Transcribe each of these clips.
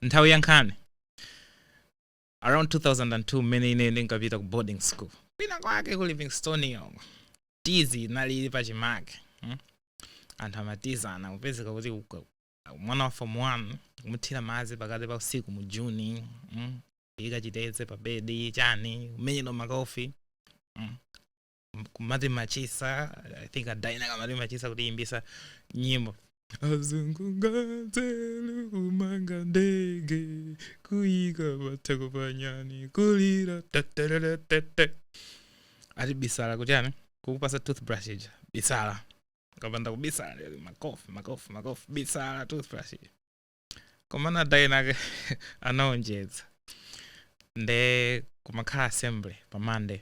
nthawi ya nkhani around 2002 mmene ine ndinkapita ku boarding school kwina kwake ku livingstonia uko tizi inali ili pachimake hmm? anthu amatizana kupezeka kuti mwana wa form 1 kumuthira madzi pakati pa usiku mu juni hmm? ika chiteze pa bedi chani kumenyedwa makofi hmm? kumati machisa i think adaina kamati machisa kuti imbisa nyimbo azungu nganzelu kumanga ndege kuyika matako panyani kulira tatatatatata ati bisala kuti ani kukupasa toothbrush ija bisala kapanda kubisala lero makofi makofi makofi bisala toothbrush ija komana adainake anaonjeza nde kumakhala assembly pa monday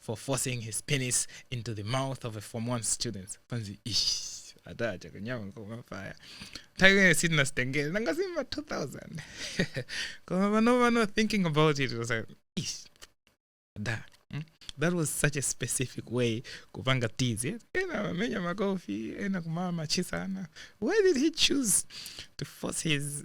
for forcing his penis into the mouth of a form one student anzake ish adachita kunyanya kumufaya nthawi imene sitina sitengere nanga si mma 2000 koma pano pano thinking about it was like ish da mm? that was such a specific way kupanga tizi ena amamenya makofi ena kumawachita chani why did he choose to force his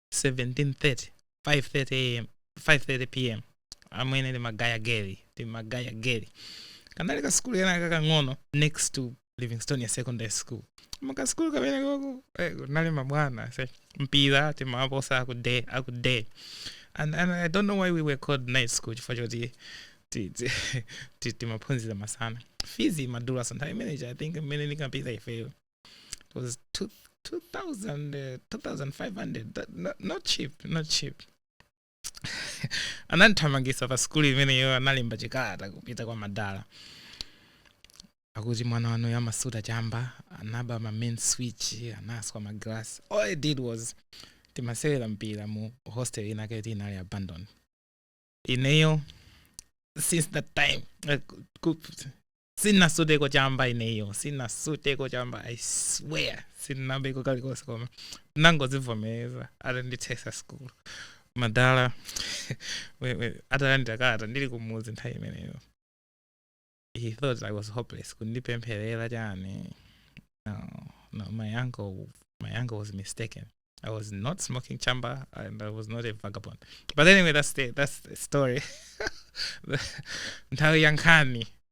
1730 530 am 530 pm amwene timagaya geli timagaya geli kanali ka sikulu kenaka kang'ono next to livingstonia secondary school pakasikulu kamene koku eh, kunali mabwana a mpira timaposa akude akude and, and i don't know why we were called night school chifukwa choti ti- ti- ti- timaphunzira masana fizi imadulaso nthawi imeneji i think mmene tinkapita ifeyo it was two, 2000 uh, 2500 that, not, not cheap not cheap anandithamangisa pa sikulu imeneyo analemba chikalata kupita kwa madala akuti mwana wanuyu amasuta chamba anaba ma main switch anaswa ma glass all i did was timasewera mpira mu hostel inayake inali abandoned ineyo since that time uh, sinasuteko chamba ineyo sinasuteko chamba i swear sinabeko kalikonse koma nangozivomereza atandichotsa sikulu madala we- we- atalandira kalata ndili kumudzi nthawi imeneyo he thought i was hopeless kundipempherera chani no, no my uncle my uncle was mistaken i was not smoking chamba and i was not a vagabond but anyway that's the, that's the story nthawi ya nkhani